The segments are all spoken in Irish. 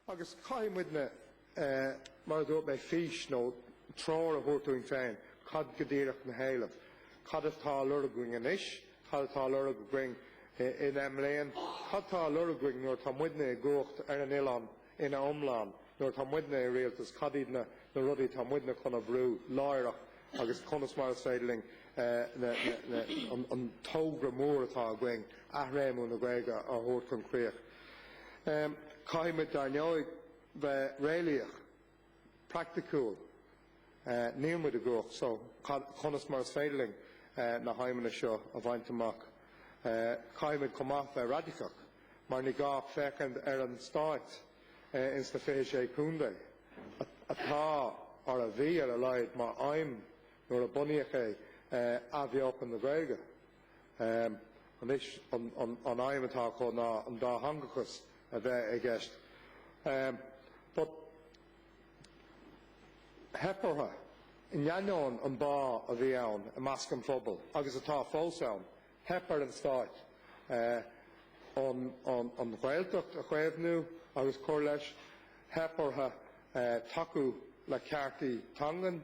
Agus caithfidh muidne, mar a dúirt mé, fís nó treoir a thabhairt dúinn féin, cad go díreach na héilimh, cad atá á lorg againn anois, cad atá á lorg againn i ndeich mbliain, cad tá á lorg againn nuair atá muidne i gcumhacht ar an oileán ina iomlán, nuair atá muidne i rialtas, cad iad na rudaí atá muidne chun a bhrú láithreach agus conas mar is féidir linn an togra mór atá againn, athréimiú na Gaeilge, a thabhairt chun críoch. Caithfimid, dar ndóigh, bheith réalaíoch, praiticiúil. Níl muid i gcumhacht, so conas mar is féidir linn na haidhmeanna seo a bhaint amach? Caithfimid chomh maith bheith raidiceach, mar ní gá ach féachaint ar an stáit ins na fiche sé contae atá, or a bhí ar a laghad mar aidhm nuair a bunaíodh é, athbheochan na Gaeilge. Anois, an aidhm atá acu ná an dátheangachas a bheith i gceist. But, theip orthu, in ainneoin an bá a bhí ann i measc an phobail, agus atá fós ann, theip ar an Stáit an Ghaeltacht a chaomhnú agus cur leis, theip orthu tacú le ceartaí teangan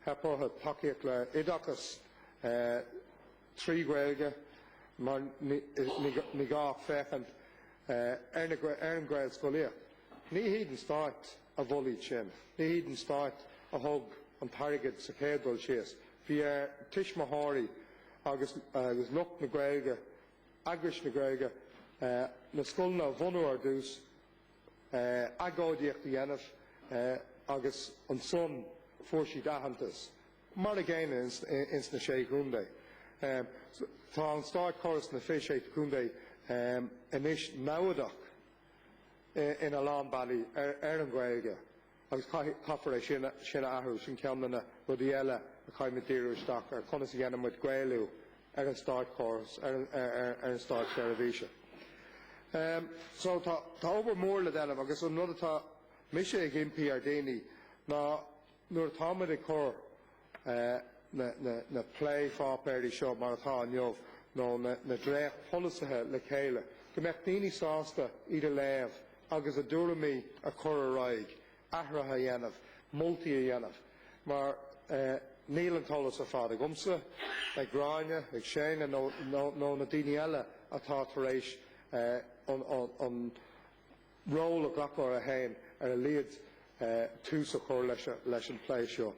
Theip orthu tacaíocht le oideachas trí Ghaeilge mar ní gá ach féachaint ar an Ghaelscolaíocht. Ní hiad an stáit a mhol iad sin, ní hiad an stáit a thug an t-airgead sa chéad dul síos. Bhí ar tuismitheoirí agus lucht na Gaeilge, eagrais na Gaeilge, na scoileanna a bhunú ar dtús, agóidíocht a dhéanamh agus ansan fuair siad aitheantas. Mar a gcéanna ins na Sé Chontae. Tá an státchóras na fiche sé contae anois namhadach in a lán bealaí ar an Ghaeilge. Agus caithfear é sin a athrú, sin ceann de na rudaí eile a chaithfimid díriú isteach ar, conas a dhéanaimid Gaelú ar an státchóras, ar an státseirbhís. So tá obair mhór le déanamh agus an rud atá mise ag impí ar daoine ná nuair atáimid ag cur na plé-pháipéirí seo mar atá inniu, nó na dréacht-pholasaithe le chéile, go mbeadh daoine sásta iad a léamh agus a dtuairimí a chur ar aghaidh, athruithe a dhéanamh, moltaí a dhéanamh. Mar níl an t-eolas ar fad agamsa, ag Gráinne, ag Séanna nó na daoine eile atá tar éis an ról a ghlacadh ar a haon ar a laghad tús a chur leis an bplé seo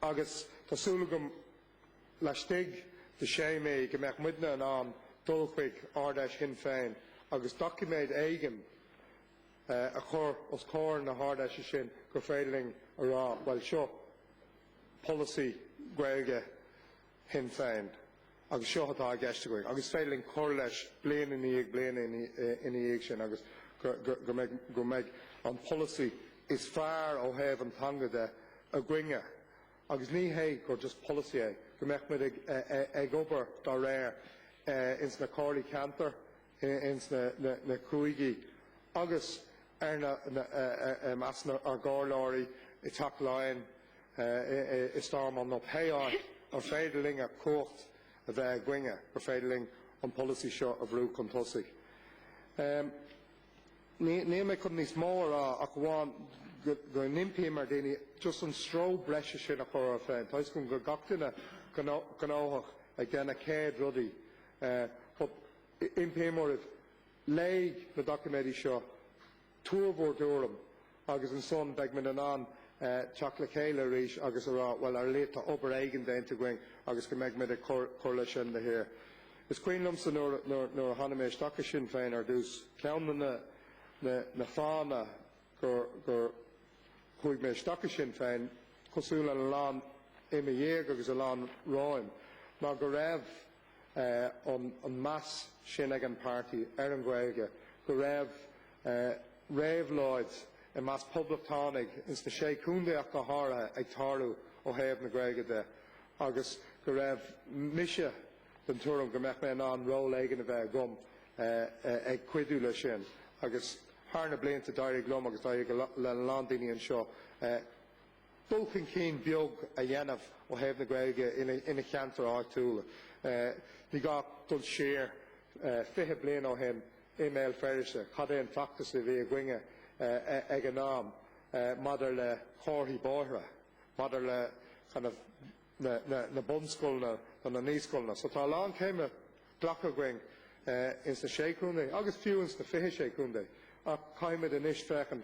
agus tá súil agam laistigh de 6 mí go mbeadh muidne in ann dul chuig Ard-Fheis Shinn Féin agus doiciméad éigin a chur os comhair na hArd-Fheise sin gur féidir linn a rá, bhuel, seo polasaí Gaeilge Shinn Féin, agus seo atá i gceist againn, agus is féidir linn cur leis bliain i ndiaidh bliana ina dhiaidh sin agus go mbeidh go mbeidh an polasaí is fearr ó thaobh an teanga de againne. Agus ní hé gur just polasaí é, go mbeadh muid ag obair dá réir ins na comhairlí ceantair, ins na cúigí agus ar i measc ár gcomhairleoirí i dTeach Laighean, i Stormont nó pé áit ar féidir linn a cumhacht a bheith againne gur féidir linn an polasaí seo a bhrú chun tosaigh. Ní mé chun níos mó a rá ach amháin go n-impí mé ar daoine just an stró breise sin a chur orthu féin. Tá 'fhios agam go bhfuil gach duine gnóthach ag déanamh céad rudaí but impí mé oraibh, léigh na doiciméidí seo, Tabhair bhur dtuairim, agus ansan beidh muid in ann teacht le chéile arís agus a rá, bhuel, ar a laghad, tá obair éigin déanta againn agus go mbeidh muid ag cur leis sin de shíor. Is cuimhin liomsa nuair a tháinig mé isteach i Sinn Féin ar dtús, ceann de na fáthanna gur chuaigh mé isteach i Sinn Féin, cosúil lena lán i mo dhiaidh agus a lán romhaim, ná go raibh, an meas sin ag an páirtí ar an Ghaeilge go raibh réabhlóid i measc poblachtánaigh ins na Sé Chontae go háirithe ag tarlú ó thaobh na Gaeilge de agus go raibh mise den tuairim go mbeadh mé in ann ról éigin a bheith agam ag cuidiú leis sin agus thar na blianta d'éirigh liom agus d'éirigh le a lán daoine anseo dul chun cinn beag a dhéanamh ó thaobh na Gaeilge ina cheantair áitiúla. Ní gá dul siar 20 bliain ó shin i mBéal Feirste, cad é an feachtas a bhí againne ag an am maidir le comharthaí bóithre, maidir le kind of na bunscoileanna nó na naíscoileanna. So tá a lán céime glactha againn ins na Sé Chontae agus fiú ins na 26 Chontae ach caithfimid anois féachaint